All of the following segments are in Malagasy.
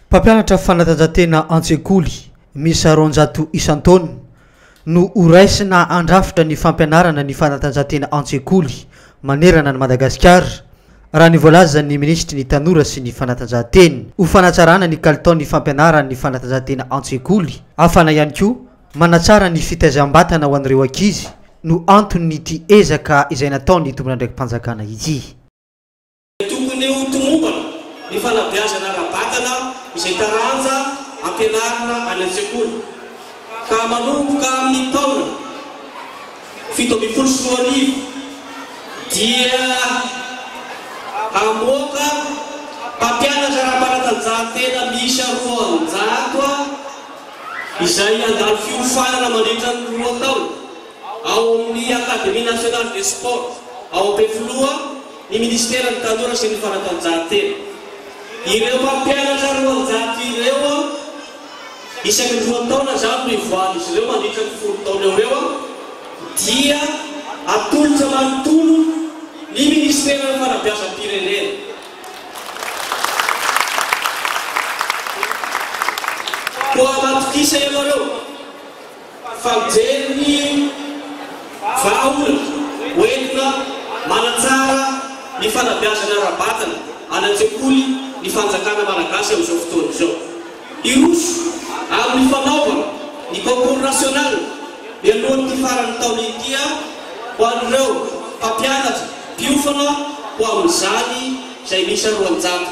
Mpampianatra fanatanjahantena an-tsekoly miisa roanjato isan-taona no ho raisina handrafitra ny fampianarana ny fanatanjahantena an-tsekoly manerana an'i Madagasikara, raha ny voalazan'ny minisitry ny Tanora sy ny fanatanjahantena. Ho fanatsarana ny kalitaon'ny fampianaran'ny fanatanjahantena an-tsekoly, hafana ihany koa manatsara ny fitaizam-batana ho an'ireo ankizy no anton'ity ezaka izay nataon'ny tompon'andraiki-panjakana ity. Tokony ho tomombana ny fanabeazana ara-batana izay taranja ampianarina any an-tsekoly, ka manomboka amin'ny taona fito ambin'ny folo sy roa arivo dia hamoaka mpampianatra ara-panatanjahantena miisa roanjato izay handalo fiofanana mandritra ny roa taona ao amin'ny Académie Nationale des Sports ao Ampefiloha, ny Minisiteran'ny Tanora sy ny Fanatanjahantena. Ireo mpampianatra roanjato ireo isaky ny roa taona izany no ivoahan'izy ireo mandritra ny folo taona eo ho eo dia atolotra manontolo ny Minisiteran'ny Fanabeazam-pirenena. Koa matokisa ianareo. fa mijery ny vahaolana hoentina manatsara ny fanabeazana ara-batana any an-tsekoly ny fanjakana malagasy amin'izao fotoana izao. Hiroso amin'ny fanaovana ny concours national mialohan'ity faran'ny taona ity aho ho an'ireo mpampianatra mpiofana ho amin'izany izay miisa roanjato.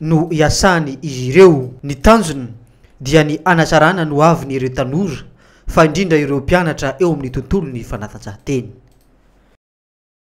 no iasany izy ireo. Ny tanjona dia ny hanatsarana ny hoaviny ireo tanora fa indrindra ireo mpianatra eo amin'ny tontolon'ny fanatanjahantena.